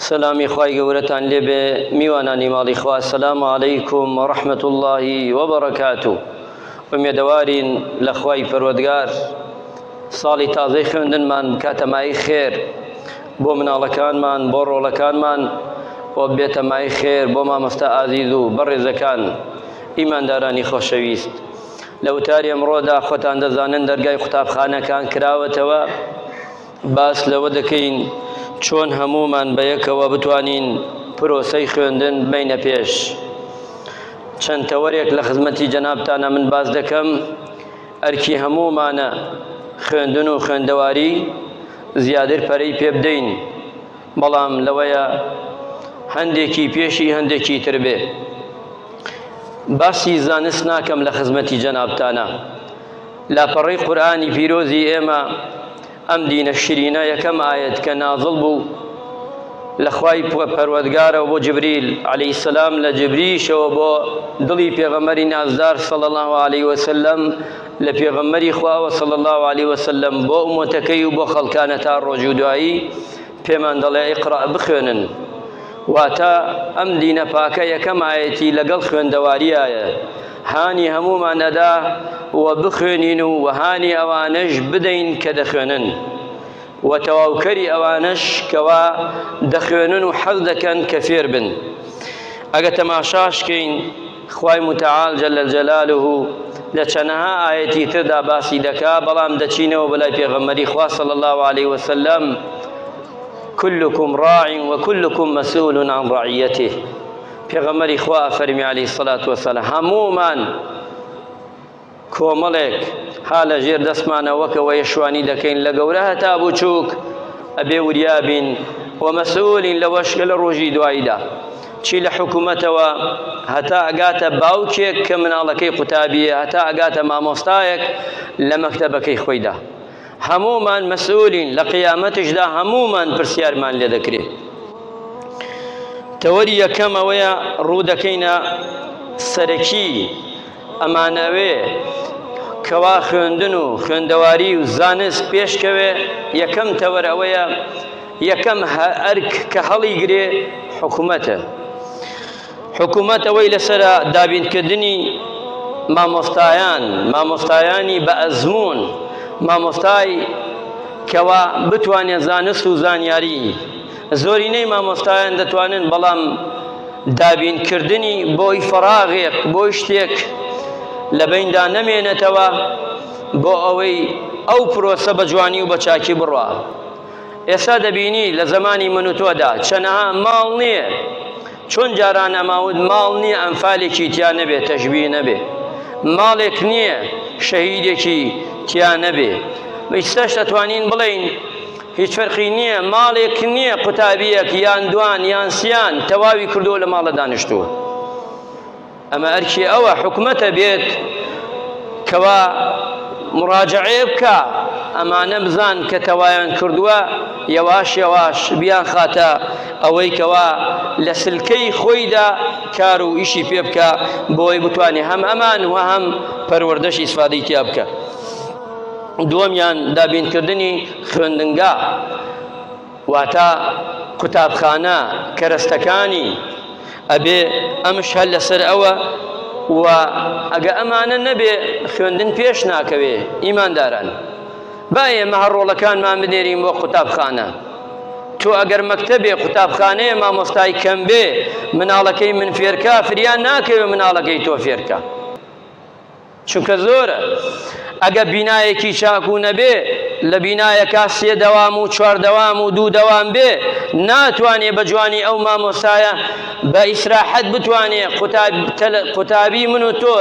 سەلامی خوای گەورەتان لێبێ میوانانی ماڵی خوا سەلام عەلەیکم و ڕەحمەت اللهی وبەڕەکات و ئومێدەوارین لە خوای پەروەردگار ساڵی تازەی خوێندنمان بکاتەمای خێر بۆ مناڵەکانمان بۆ ڕۆڵەکانمان و بێتەمای خێر بۆ مامۆستا ئازیز و بەڕێزەکان ئیماندارانی خۆشەویست لە وتاری ئەمڕۆدا خۆتان دەزانن دەرگای قوتابخانەکان کراوەتەوە باس لەوە دەکەین چۆن هەموومان بەیەکەوە بتوانین پرۆسەی خوێندن بمەینە پێش. چەند تەوەرێک لە خزمەتی جەنابتانە من باس دەکەم، ئەرکی هەموومانە خوێندن و خوێندەواری زیادر پەرەی پێبدەین. بەڵام لەوەیە هەندێکی پێشی هەندێکی تر بێ باسی زانست ناکەم لە خزمەتی جەنابتانە لاپەڕەی قورآانی پیرۆزی ئێمە ئەم دینە شرینە یەکەم ئاەت کە نازڵ بوو لە خوای پەروەردگارەوە بۆ جبریل عەلەی سەسلام لە جبریشەوە بۆ دڵی پێغەمەری نازدار سەڵ الله عليه وسلم لە پێغەمەری خواوە سەڵ الله عليه وسلم بۆ ئومەتەکەی و بۆ خەڵکانە تا ڕۆژ و دوایی پێمان دەڵێ ئیقرا بخوێنن واتە ئەم دینە پاکە یەکەم ئاەتی لەگەڵ خوێندەواریایە هانی هەمومان ئەدا و بخوێنین و وەهانی ئەوانەش بدەین کە دەخوێنن و تەواوکەری ئەوانەش کەوا دەخوێنن و حەز دەکەن کە فێر بن ئەگە تەماشاشکەین خوای متعال جل جلاله لە چەنەها ئایەتی تردا باسی دەکا بەڵام دەچینەوە بەلای پێغەمبەری خوا صلی الله علیه وسلم كلكم راع وكلكم مسؤول عن رعيته پێغەمبەری خوا فەرمی علیه الصلاة والسلام هەموومان کۆمەڵێک ها لە ژێر دەستمانە وەکە وە یەشوانی دەکەین لە گەورە هەتا بچووک ئەبێ وریابین و مەسئولین لەوەش کە لە ڕۆژی دواییدا چی لە حکوومەتەوە هەتا ئەگاتە باوکێک کە مناڵەکەی قوتابیە هەتا ئەگاتە مامۆستایەک لە مەکتەبەکەی خۆیدا هەمومان مەسئولین لە قیامەتشدا هەمومان پرسیارمان لێ دەکرێت تەوەری یەکەمەوەیە ڕوو دەکەینە سەرەکی ئەمانەوێ کەوا خوێندن و خوێندەواری و زانست پێشکەوێ یەکەم تەوەر ئەوەیە یەکەم ئەرک کە هەڵی گرێ حکوومەتە حکوومەت ئەوەی لەسرە دابینکردنی مامۆستایان مامۆستایانی بە ئەزمون مامۆستای کەوا بتوانێت زانست و زانیاری زۆرینەی مامۆستایان دەتوانن بەڵام دابینکردنی بۆی فەراغێک بۆی شتێک لە بیندا نەمێنێتەوە بۆ ئەوەی ئەو پرۆسە بە جوانی و بە چاکی بڕە ئێستا دەبینی لە زمانی من و تۆدا چەنەها ماڵ نییە چۆن جاران ئەماود ماڵ نییە ئەمفالێکی تیا نەبێ تەژبی نەبێ ماڵێک نییە شەهیدێکی تیا نەبێ بەیستاش دەتوانین بڵین هیچ فەرقی نییە ماڵێک نییە قوتابییەک یان دوان یان سیان تەواوی کردو لە ماڵە دانیشتووە ئەمە ئەرکی ئەوە حکومەتە بێت کەوا مڕاجعەیە بکە ئەمانە بزان کە تەوایان کردووە یەواش یەواش بیان خاتە ئەوەی کەوا لە سلکەی خۆیدا کار و ئیشی پێ بکە بۆی بتوانێت هەم ئەمان و هەم پەروەردەشی سفادەی تیا بکە دووەمیان دابینکردنی خوێندنگا واتە قوتابخانە کەرەستەکانی ئەبێ ئەمش هەر لەسەر ئەوە و ئەگە ئەمانە نەبێ خوێندن پێش ناکەوێ ئیمانداران با ئێمە هەر ڕۆڵەکانمان بنێرین بۆ قوتابخانە تۆ ئەگەر مەکتەبێ قوتابخانەیە مامۆستای کەم بێ مناڵەکەی من فێرکە فریان ناکەوێ مناڵەکەی تۆ فێرکە چونکە زۆرە ئەگە بینایەکی چاکو نەبێ لە بینایەکە سێ دەوام و چوار دەوام و دوو دەوام بێ ناتوانێ بە جوانی ئەو مامۆستایە بە ئیسراحەت بتوانێ قوتابی من و تۆ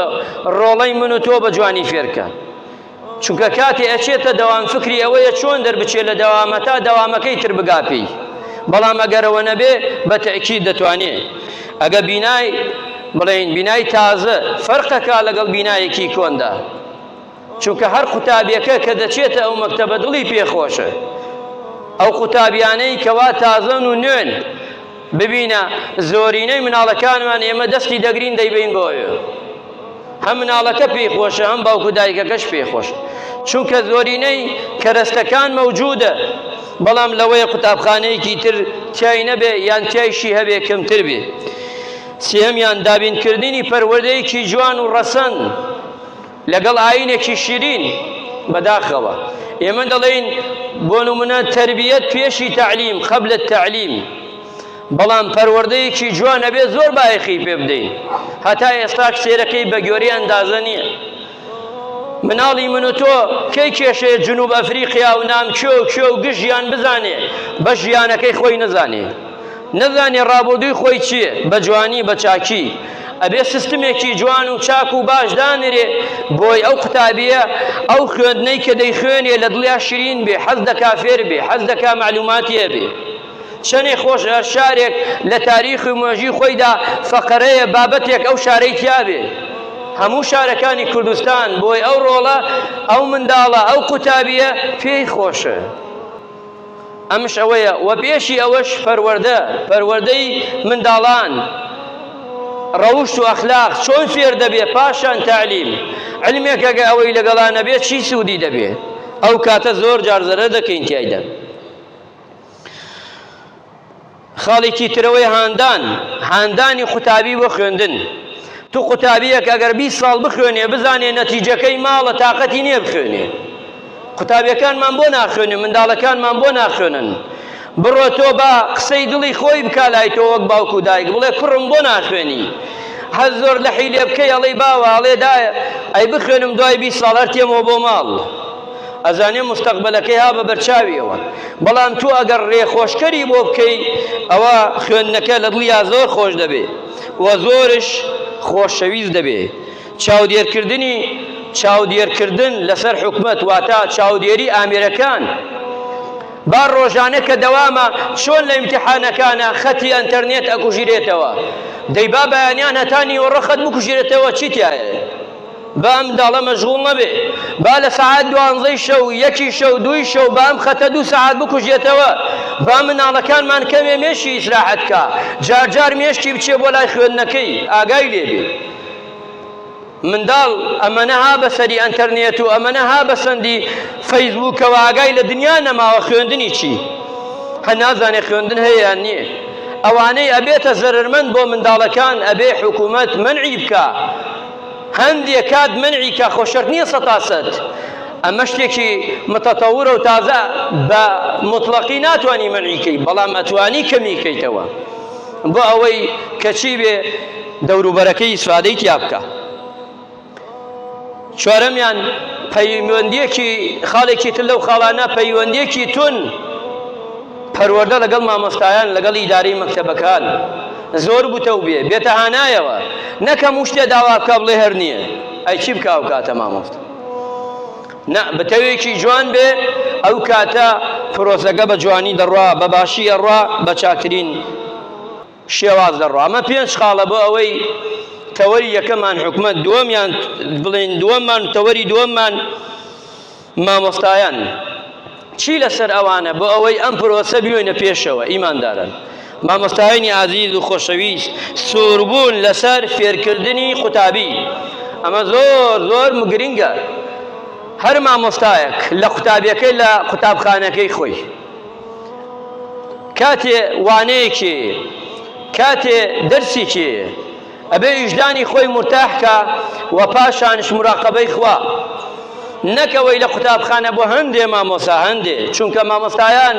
ڕۆڵەی من و تۆ بە جوانی فێرکە چونکە کاتێ ئەچێتە دەوام فکری ئەوەیە چۆن دەربچێت لە دەوامە تا دەوامەکەی تر بگاپی بەڵام ئەگەرەوە نەبێ بە تەکی دەتوانێت ئەگە بینای بڵێین بینای تازە فەرقەکە لەگەڵ بینایەکی کۆندا چونکە هەر قوتابیەکە کە دەچێتە ئەو مەکتەبە دڵی پێخۆشە ئەو قوتابیانەی کەوا تازەن و نوێن ببینە زۆرینەی مناڵەکانمان ئێمە دەستی دەگرین دەیبین بۆیە هەم مناڵەکە پێی خۆشە هەم باوک و دایکەکەش پێی خۆش چونکە زۆرینەی کەرەستەکان مەوجودە بەڵام لەوەیە قوتابخانەیەکی تر تای نەبێ یان تایشی هەبێ کەمتر بێ سێمیان دابینکردنی پەروەردەیەکی جوان و ڕەسەن لەگەڵ ئاینێکی شیرین بەداخەوە ئێمە دەڵێین بۆ نمونە تربیەت پێشی تعلیم قبل التعلیم بەڵام پەروەردەیەکی جوان ئەبێت زۆر بایەخی پێ بدەین هەتا ئێستا کچێرەکەی بەگوێرەی ئەندازە نییە مناڵی من و تۆ کەی کێشەیە جنوب ئەفریقیا و نام کێ و کێ و گژیان بزانێ بە ژیانەکەی خۆی نەزانێ نەزانێ ڕابردووی خۆی چییە بە جوانی بە چاکی ئەبێ سیستمێکی جوان و چاک و باش دانرێ بۆی ئەو قوتابیە ئەو خوێندنەی کە دەیخوێنێ لە دڵیا شرین بێ حەز دەکا فێر بێ حەز دەکا معلوماتیە بێ شەنێ خۆش هەر شارێک لە تاریخ و مێژووی خۆیدا فەقەرەیە بابەتێک ئەو شارەی تیا بێ هەموو شارەکانی کوردستان بۆی ئەو ڕۆڵە ئەو منداڵە ئەو قوتابیە پێی خۆشە ئەمش ئەوەیە وە پێشی ئەوەش پەروەەردە پەروەەردەی منداڵان ڕەوشت و ئەخلاق چۆن فێر دەبێ پاشان تعلیم علمێکەگە ئەوەی لەگەڵانە بێت چی سوودی دەبێت ئەو کاتە زۆر جارزەرە دەکەین تایدا خاڵێکی ترەوەی هاندان هاندانی قوتابی بۆ خوێندن تو قوتابیەک ئەگەر 20 ساڵ بخوێنێ بزانێ نەتیجەکەی ماڵە تااقەتی نییە بخوێنێ قوتابیەکانمان بۆ ناخوێنن منداڵەکانمان بۆ ناخوێنن بڕۆ تۆ بە قسەی دڵی خۆی بکە لای تۆ وەک باوکو دایک بڵێ کوڕم بۆ ناخوێنی هەر زۆر لە حیلێ بکەی ئەڵی باوە ئەڵێ دایە ئەی بخوێنم دوای بی ساڵەر تێمەوە بۆ ماڵ ئەزانێ مستەقبەلەکەی ها بە بەرچاویەوە بەڵام تو ئەگەر ڕێخۆشکەری بۆ بکەی ئەوە خوێندنەکە لە دڵیا زۆر خۆش دەبێ و زۆرش خۆشەویست دەبێ چاودێرکردنی چاودێرکردن لەسەر حکومت واتە چاودێری ئامێرەکان با ڕۆژانە کە دەوامە چۆن لە امتحانەکانە خەتی ئەتەرنێت ئەکوژیرێتەوە دەیبا بەیانیان هەتا نیوەڕە خەت بکوژێتەوە چیتیایە با ئەم منداڵە مەشغوڵ نەبێ، با لە سەعات دوانزەی شەو، یەکی شەو، دووی شەو بە ئەم خەتە دوو سەعات بکوژێتەوە، با مناڵەکانمان کەمێ مێشکی ئیسراحەت کا، جار جار مێشکی بچێ بۆ لای خوێندنەکەی ئاگای لێ بێ. منداڵ ئەمەنە ها بە سەری ئەنتەرنێت و ئەمەنە ها بە سەندی فەیسبووکەوە ئاگای لە دنیا نەماوە خوێندنی چی؟ هە نازانێ خوێندن هەیە یان نییە. ئەوانەی ئەبێتە زەرەرمەند بۆ منداڵەکان ئەبێ حکوومەت مەنعی بکا. هەندێ کات مەنعی کا خۆ شەرت نییە سەد تا سەد ئەمە شتێکی متەتەورە و تازە بە مطلقی ناتوانی مەنعی کەی بەڵام ئەتوانی کەمی کەیتەوە بۆ ئەوەی کەچی بێ دەوروبەرەکەی ئیسفادەی تیا بکە چوارەمیان پەیوەندیەکی خاڵێکی تر لەو خاڵانە پەیوەندیەکی تون پەروەردە لەگەڵ مامۆستایان لەگەڵ ئیدارەی مەکتەبەکان زۆر گوتە و بێ بێتە هانایەوە نەک هەموو شتێ داوا بکا بڵێ هەر نییە ئەی چی بکا ئەو کاتە مامۆستا نا بتەوێکی جوان بێ ئەو کاتە پرۆسەکە بە جوانی دەڕوا بە باشی ئەڕوا بە چاکترین شێواز دەڕوا ئەمە پێنج خاڵە بۆ ئەوەی تەوەری یەکەمان حکومت دووەمیان بڵێن دووەممان تەوەری دووەممان مامۆستایان چی لەسەر ئەوانە بۆ ئەوەی ئەم پرۆسە بیۆینە پێشەوە ئیماندارن مامۆستایانی ئازیز و خۆشەویست سووربوون لەسەر فێرکردنی قوتابی ئەمە زۆر زۆر گرنگە هەر مامۆستایەک لە قوتابیەکەی لە قوتابخانەکەی خۆی کاتێ وانەیەکی کاتێ دەرسێکی ئەبێ ویژدانی خۆی مورتاح کا و پاشانش مراقبەی خوا نەک ئەوەی لە قوتابخانە بۆ هەندێ مامۆسا هەندێ چونکە مامۆستایان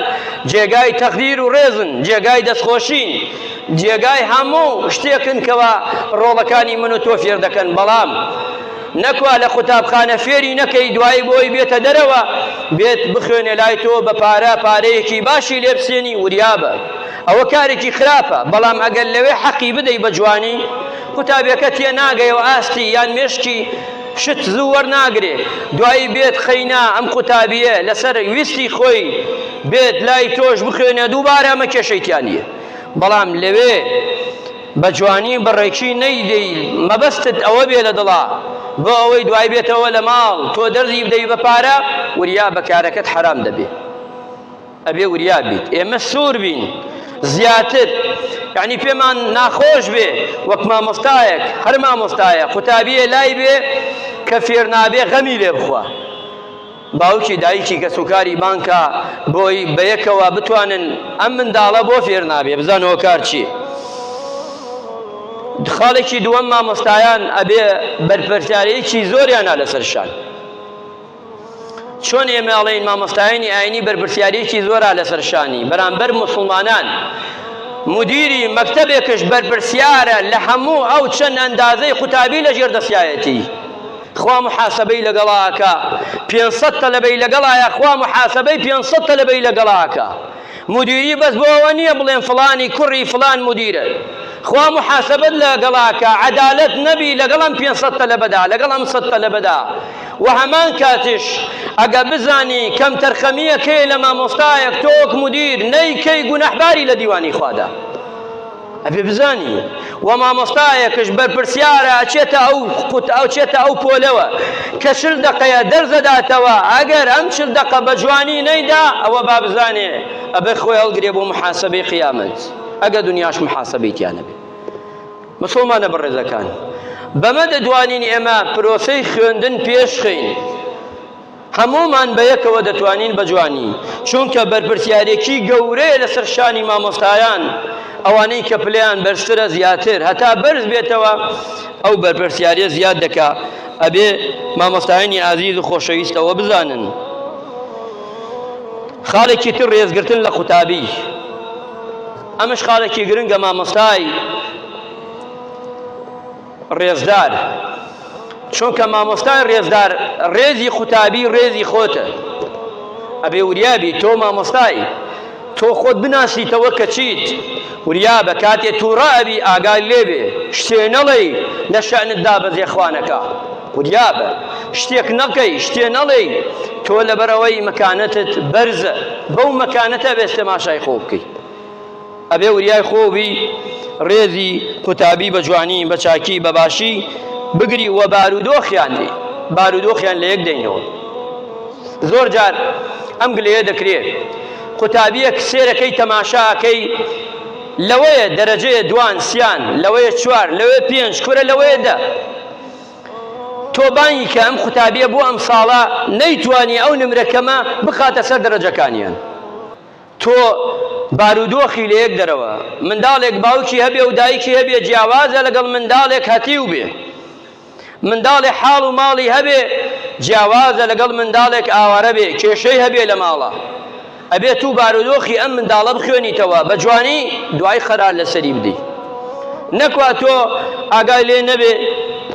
جێگای تەقدیر و ڕێزن جێگای دەستخۆشین جێگای هەموو شتێکن کەوا ڕۆڵەکانی من و تۆ فێر دەکەن بەڵام نەکوا لە قوتابخانە فێری نەکەی دوایی بۆی بێتە دەرەوە بێت بخوێنێ لای تۆ بە پارە پارەیەکی باشی لێبسێنی وریابە ئەوە کارێکی خراپە، بەڵام ئەگەر لەوێ حەقی بدەی بە جوانی، قوتابیەکە تێ ناگەیەوە ئاستی یان مێشکی شت زوو وەرناگرێ، دوایی بێت قەینا ئەم قوتابیە لەسەر ویستی خۆی بێت لای تۆش بخوێنێ دووبارە ئەمە کێشەی تیا نیە، بەڵام لەوێ بە جوانی بە ڕێکی نەیدەی مەبەستت ئەوە بێ لە دڵا بۆ ئەوەی دوای بێتەوە لە ماڵ تۆ دەرزی بدەی بە پارە وریا بە کارەکەت حەرام دەبێ. ئەبێ وریا بیت ئێمە سوور بین زیاتر یعنی پێمان ناخۆش بێ وەک مامۆستایەک هەر مامۆستایە قوتابیە لای بێ کە فێر نابێ غەمی لێ بخوا باوکی دایکی کەس و کاری بانکە بۆی بەیەکەوە بتوانن ئەم منداڵە بۆ فێر نابێ بزان هۆکار چی خاڵێکی دووەم مامۆستایان ئەبێ بەرپەرچارەیەکی زۆریانە لەسەر شان چۆن ئێمە ئەڵێین مامۆستایانی ئاینی بەرپرسیارێکی زۆرا لەسەر شانی بەرامبەر مسلمانان مدیری مەکتەبێکش بەرپرسیارە لە هەموو ئەو چەند ئەندازەی قوتابی لە ژێر دەستایەتی خوا محاسبەی لەگەڵاکە 500 تەلەبەی لەگەڵایە خوا محاسبەی 500 تەلەبەی لەگەڵاکە مودیری بەس بۆ ئەوە نیە بڵێن فڵانی کوڕی فڵان مودیرە خوا محاسبەت لە گەڵاکە عەدالەت نەبی لەگەڵ ئەم پێنج سەد تەلەبەدا لەگەڵ ئەم سەد تەلەبەدا و هەمان کاتیش ئەگە بزانی کەم تەرخەمیەکەی لە مامۆستایەک تۆک مودیر نەیکەی گوناحباری لە دیوانی خوادا ئەبێ بزانی و مامۆستایەکش بەرپرسیارە ئەچێتە ئەو قوت ئەوچێتە ئەو پۆلەوە کە چل دەقەیە دەرس دەداتەوە ئەگەر ئەم چل دەقە بە جوانی نەیدا ئەوە با بزانێ ئەبێ خۆی هەڵگرێ بۆ محاسبەی قیامەت ئەگە دنیاش محاسبەی تیانە بێ مسلمانە بەڕێزەکان بەمە دەدوانین ئێمە پرۆسەی خوێندن پێشخین هەموومان بەیەکەوە دەتوانین بە جوانی، چونکە بەرپرسیارێکی گەورەیە لەسەر شانی مامۆستایان، ئەوانەی کە پلەیان بەرزترە زیاتر، هەتا بەرز بێتەوە ئەو بەرپرسیاریە زیاد دەکا، ئەبێ مامۆستایانی ئازیز و خۆشەویست ئەوە بزانن. خاڵێکی تر ڕێزگرتن لە قوتابی، ئەمەش خاڵێکی گرنگە مامۆستای ڕێزدار چونکە مامۆستای ڕێزدار ڕێزی قوتابی ڕێزی خۆتە ئەبێ وریابی تۆ مامۆستای تۆ خۆت بناسیتەوە کە چیت وریابە کاتێ تووڕە ئەبی ئاگای لێبێ شتێ نەڵێی لە شەعنت دابەزێ خوانەکە وریابە شتێک نەکەی شتێ نەڵێی تۆ لەبەرەوەی مەکانەتت بەرزە بەو مەکانەتە بێستە ماشای خۆ بکەیت ئەبێ وریای خۆو بی رێزی قوتابی بە جوانی بە چاکی بە باشی بگری و بارودۆخیان بی بارودۆخیان لە یەک دەینەوە زۆر جار ئەم گلەیە دەکرێت قوتابیەک سێرەکەی تەماشاکەی لەوەیە دەرەجەیە دوان سیان لەوەیە چوار لەوێ پێنج کورە لەوەیە دە تۆ بانگی کە ئەم قوتابیە بۆ ئەم ساڵە نەیتوانی ئەو نمرەکەمە بخاتە سەر دەرەجەکانیان تۆ بارودۆخی لە یەک دەرەوە، منداڵێک باوکی هەبێ و دایکی هەبێ جیاوازە لەگەڵ منداڵێک هەتیو بێ. منداڵێ حاڵ و ماڵی هەبێ جیاوازە لەگەڵ منداڵێک ئاوارە بێ کێشەی هەبێ لە ماڵا. ئەبێ تو بارودۆخی ئەم منداڵە بخوێنیتەوە بە جوانی دوای قەرار لە سەری بدەی. نەکوا تۆ ئاگای لێ نەبێ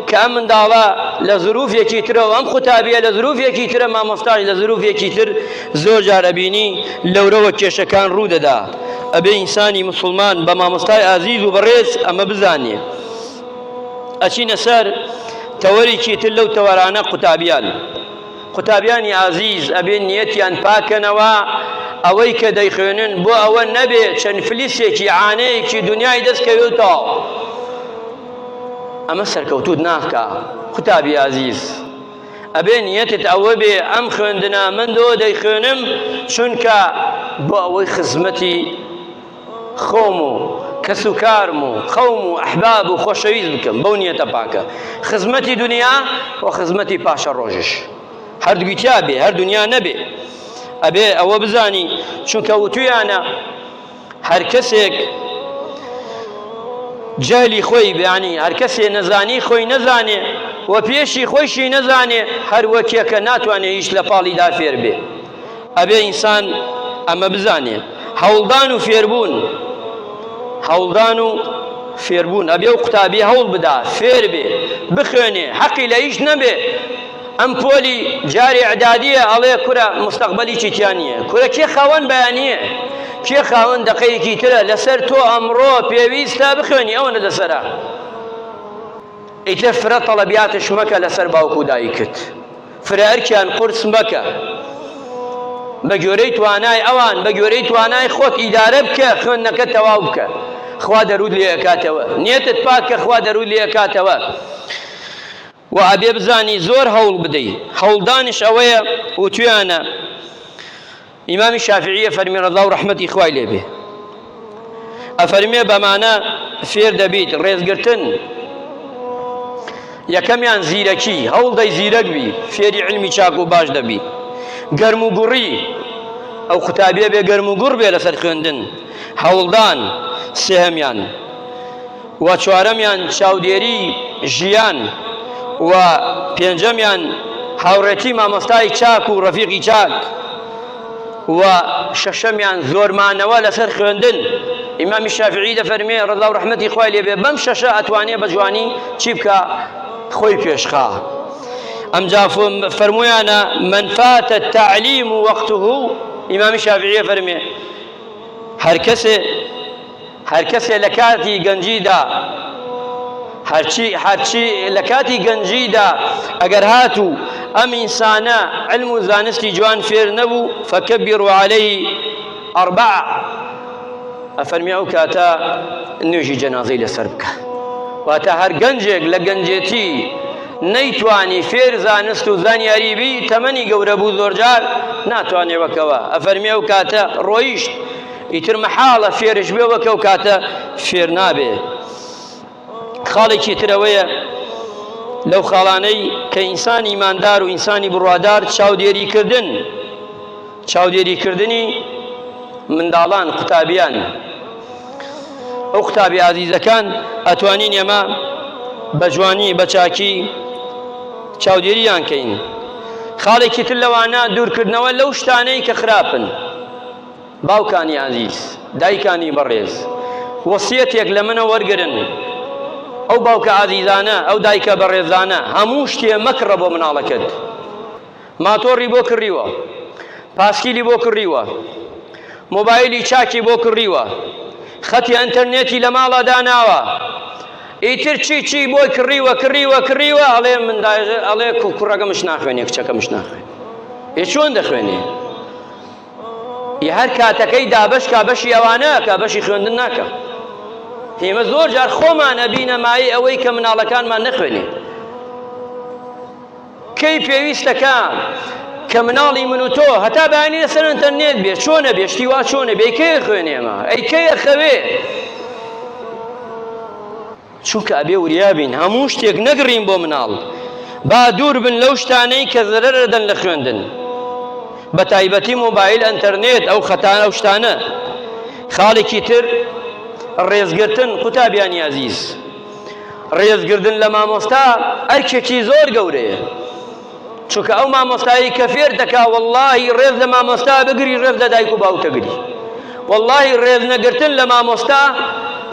کە ئەم منداڵە لە زروفێکی ترە و ئەم قوتابیە لە زروفێکی ترە مامۆستاش لە زروفێکی تر. زۆر جار ئەبینی لەورەوە کێشەکان ڕوو دەدا ئەبێ ئینسانی مسلمان بە مامۆستای ئازیز و بەڕێز ئەمە بزانێ ئەچینە سەر تەوەرێکی تر لەو تەوەرانە قوتابیان قوتابیانی ئازیز ئەبێ نیەتیان پاکەنەوە ئەوەی کە دەیخوێنن بۆ ئەوە نەبێ چەند فلیسێکی عانەیەکی دنیای دەستکەوێتەوە ئەمە سەرکەوتوت ناکە قوتابی ئازیز ئەبێ نیەتت ئەوە بێ ئەم خوێندنا من دۆ دەیخوێنم چونکە بۆ ئەوەی خزمەتی خۆم و کەس و کارم و قەوم و ئەحباب و خۆشەویست بکەم بەو نیەتە پاکە خزمەتی دنیا و خزمەتی پاشە ڕۆژش هەردووی تیا بێ هەر دنیا نەبێ ئەبێ ئەوە بزانی چونکە وتویانە هەر کەسێک جەهلی خۆی یانی هەر کەسێ نەزانی خۆی نەزانێ و پێشی خۆیشی نەزانێ هەر وەکیەکە ناتوانێ هیچ لە پاڵیدا فێر بێ ئەبێ ئینسان ئەمە بزانێ هەوڵدان و فێربوون هەوڵدان و فێربوون ئەبێ و قوتابی هەوڵ بدا فێر بێ بخوێنێ حەقی لە هیچ نەبێ ئەم پۆلی جار ئیعدادیە ئەڵێ کورە مستەقبەلیی تیا نییە کورە کێ خاوەن بەیانییە کێ خاوەن دەقەیەکی ترە لەسەر تۆ ئەمڕۆ پێویستە بخوێنی ئەوەنە لەسەرە ئیتر فرە تەڵەبیاتش مەکە لەسەر باوک و دایکت فرە ئەرکیان قورس مەکە بە گوێرەی توانای ئەوان بە گوێرەی توانای خۆت ئیدارە بکە خوێندنەکە تەواو بکە خوا دەرود لێکاتەوە نیەتت پاک کە خوا دەرود لێکاتەوە وە ئەبێ بزانی زۆر هەوڵ بدەی هەوڵدانش ئەوەیە وتویانە ئیمامی شافعیە فەرمی ڕەزا و ڕەحمەتی خوای لێبێ ئەفەرمێ بەمانە فێر دەبیت ڕێزگرتن یەکەمیان زیرەکی هەوڵ دەی زیرەک بی فێری علمی چاک و باش دەبی گەرم و گوڕی ئەو قوتابیە بێ گەرم و گوڕ بێ لەسەر خوێندن هەوڵدان سێهمیان و چوارەمیان چاودێری ژیان و پێنجەمیان هاوڕێتی مامۆستای چاک و ڕەفیقی چاک و شەشەمیان زۆر مانەوە لەسەر خوێندن ئیمامی شافعی دەفەرمێ ڕەزا و ڕەحمەتی خوای لێبێ بەم شەشە ئەتوانێ بە جوانی چی بکە خۆی پێشخا ئەمجا فەرمویانە من فاتە تعلیم و وەقته ئیمامی شافعیە فەرمێ هەر کەسێ هەر کەسێ لە کاتی گەنجیدا هەرچی هەرچی لە کاتی گەنجیدا ئەگەر هاتوو ئەم ئینسانە علم و زانستی جوان فێر نەبوو فەکەبیر و عليه ئەربع ئەفەرمی ئەو کاتە نوێژی جەنازەی لەسەر بکە واتە هەر گەنجێک لە گەنجێتی نەیتوانی فێر زانست و زانیاری بی تەمەنی گەورە بوو زۆرجار ناتوانێ وەکەوە ئەفەرمی ئەو کاتە ڕۆیشت ئیتر مەحاڵە فێرش بێ وەک ئەو کاتە فێر نابێ خاڵێکی ترەوەیە لەو خاڵانەی کە ئینسانی ماندار و ئینسانی بڕوادار چاودێری کردن چاودێری کردنی منداڵان قوتابیان ئەو قوتابی ئازیزەکان ئەتوانین ئێمە بە جوانی بە چاکی چاودێریان کەین خاڵێکی تر لەوانە دوورکردنەوە لەو شتانەی کە خراپن باوکانی ئازیز، دایکانی بەڕێز، وەسیەتێک لە منە وەرگرن، ئەو باوکە ئازیزانە، ئەو دایکە بەڕێزانە، هەموو شتێ مەکڕە بۆ مناڵەکەت. ماتۆڕی بۆ کڕیوە، پاسکیلی بۆ کڕیوە، مۆبایلی چاکی بۆ کڕیوە، خەتی ئەنتەرنێتی لە ماڵا داناوە، ئیتر چی چی بۆی کڕیوە، کڕیوە، کڕیوە، ئەڵێ من دایغ ئەڵێ کوڕەکەمش ناخوێنێ، کچەکەمش ناخوێنێ. ئێ چۆن دەخوێنێ؟ ی هەر کاتەکەی دابەش کا بەشی ئەوانە ئەکا بەشی خوێندن ناکا ئێمە زۆر جار خۆمان ئەبینە مایەی ئەوەی کە مناڵەکانمان نەخوێنێ کەی پێویستەکە کە مناڵی من و تۆ هەتا بەیانی لەسەر ئەتەرنێت بێ چۆنە بێشتی وا چۆنە بێ کێ خوێنێمە ئەی کێ خوێ چونکە ئەبێ وریا بین هەموو شتێک نەگڕین بۆ مناڵ با دوور بن لەو شتانەی کە زەرەرە دەن لە خوێندن بە تایبەتی مۆبایل ئەنتەرنێت ئەو خەتانە ئەو شتانە خاڵێکی تر ڕێزگرتن قوتابیانی ئازیز ڕێزگردن لە مامۆستا ئەرکێکی زۆر گەورەیە چونکە ئەو مامۆستایی کە فێر دەکا واللهی ڕێز لە مامۆستا بگری ڕێز لە دایک و باوکەگری واللهی ڕێز نەگرتن لە مامۆستا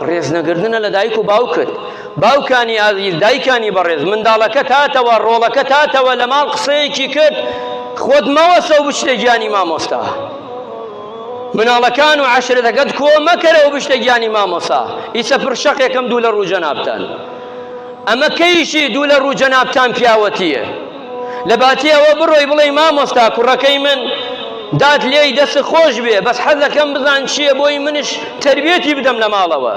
ڕێز نەگردنە لە دایک و باوکت باوکانی ئازیز دایکانی بەڕێز منداڵەکە تاتەوە ڕۆڵەکە تاتەوە لە ماڵ قسەیەکی کرد خۆت مەوەسە و بچتە گیانی مامۆستا مناڵەکان و عشرەتەکەت کۆ مەکەرەوە بشتە گیانی مامۆسا ئیسە پرشەقێکم دوو لە ڕوو جەنابتان ئەمە کەیشی دوو لە ڕوو جەنابتان پیاوەتییە لە باتی ئەوە بڕۆی بڵێی مامۆستا کوڕەکەی من دات لێی دەست خۆش بێ بەس حەزەکەم بزان چییە بۆی منش تەربێتی بدەم لە ماڵەوە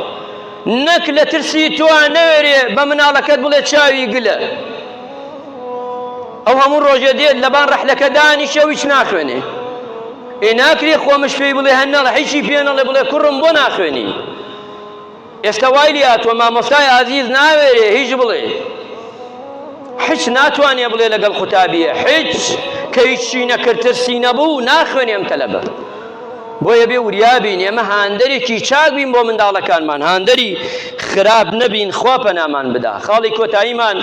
نەک لە ترسی تۆ نەوێرێ بە مناڵەکەت بڵێ چاوی گلە ئەو هەموو ڕۆژێ دێت لەبان ڕەحلەکە دانیشە ویچ ناخوێنێ ئێ ناکرێ خۆمش پێی بڵێ هەنەڵە هیچی پێ نەڵێ بڵێ کوڕم بۆ ناخوێنی ئێستا وای لیاتوە مامۆستای ئازیز ناوێرێ هیچ بڵێ حچ ناتوانێ بڵێ لەگەڵ قوتابیە حچ کە هیچی نەکرد ترسی نەبوو ناخوێنێ ئەم تەلەبە بۆیە بێ وریابین ئێمە هاندەرێکی چاک بین بۆ منداڵەکانمان هاندەری خراپ نەبین خوا پەنامان بدا خاڵی کۆتاییمان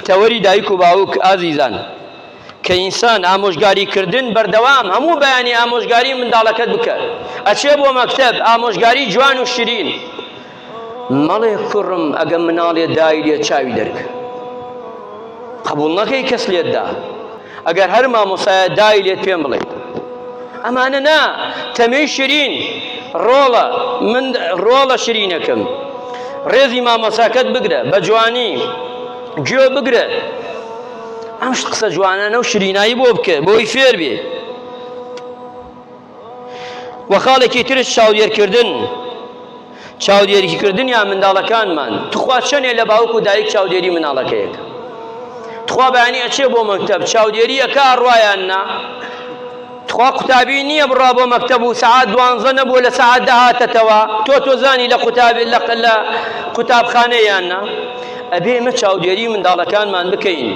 تەوەری دایک و باوک ئازیزان کە ئینسان ئامۆژگاری کردن بەردەوام هەموو بەیانی ئامۆژگاری منداڵەکەت بکە ئەچێ بۆ مەکتب ئامۆژگاری جوان و شرین مەڵێ کوڕم ئەگە مناڵێ دای لێ چاوی دەرکە قبول نەکەی کەس لێتدا ئەگەر هەر مامۆسایە دای لێت پێم بڵێ ئەمانە نا تەمێی شرین ڕۆڵە من ڕۆڵە شرینەکەم ڕێزی مامۆساکەت بگرە بە جوانی گوێ بگرە ئەم قسە جوانانە و شرینایی بۆ بکە بۆی فێر بێ وە خاڵێکی ترش چاودێرکردن چاودێریکردن یا منداڵەکانمان تخوا چەندێ لە باوک و دایک چاودێری مناڵەکەیەک تخوا بەیانی ئەچێ بۆ مەکتب چاودێریەکە ڕایان نا تخوا قوتابی نیە بڕا بۆ مەکتەب و سەعات دوانزە نەبووە لە سەعات دە هاتەتەوە تۆ تۆزانی لە قوتابی لە لە قوتابخانە یان نا ئەبێ مە چاودێری منداڵەکانمان بکەین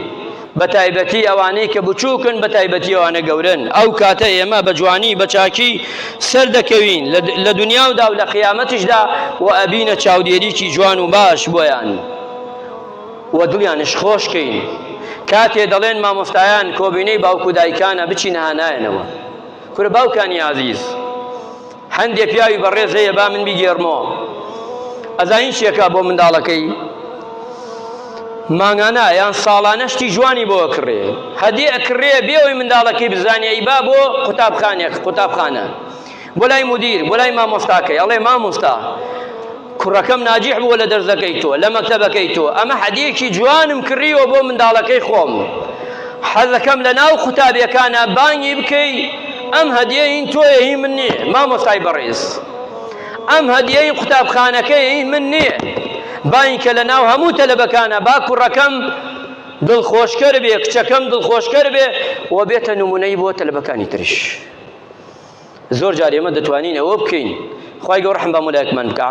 بەتایبەتی ئەوانەی کە بچووکن بەتایبەتی ئەوانە گەورن ئەو کاتە ئێمە بە جوانی بە چاکی سەر دەکەوین لە دنیا و دا و لە قیامەتیشدا و ئەبینە چاودێریی جوان و باش بۆیان. و دڵیانش خۆش کەین کاتێ دەڵێن مامۆستایان کۆبینەی باوک و دایکانە بچین ها نایەنەوە کورە باوکانی ئازیز هەندێ پیاوی بەڕێز هەیە با من بیگێڕمەوە ئەزانین چیەکە بۆ منداڵەکەی مانگانە یان ساڵانە شتی جوانی بۆ کڕێ هەدی ئەکڕێ بێەوەی منداڵەکەی بزانانی ئەی با بۆ قوتابخانێک قوتابخانە بۆ لای مدیر بۆ لای مامۆستاکەی ئەڵێ مامۆستا کوڕەکەم ناجیح بووە لە دەرزەکەی تۆ لە مەکتەبەکەی تۆ ئەمە حەدیەکی جوانم کڕیوە بۆ منداڵەکەی خۆم حەزەکەم لە ناو قوتابیەکانە بانگی بکەی ئەم هەدیە هین تۆیە هی من نییە مامۆستای بەڕێز ئەم هەدیەی قوتابخانەکەی هی من نییە باین کە لە ناو هەموو تەلەبەکانە با کوڕەکەم دڵخۆشکەر بێ کچەکەم دڵخۆشکەر بێ و بێتە نمونەی بۆ تەلبەکانی ترش زۆر جار ئێمە دەتوانین ئەوە بکەین خوای گەورە ڕەحم بە هەموو لایەکمان بکا.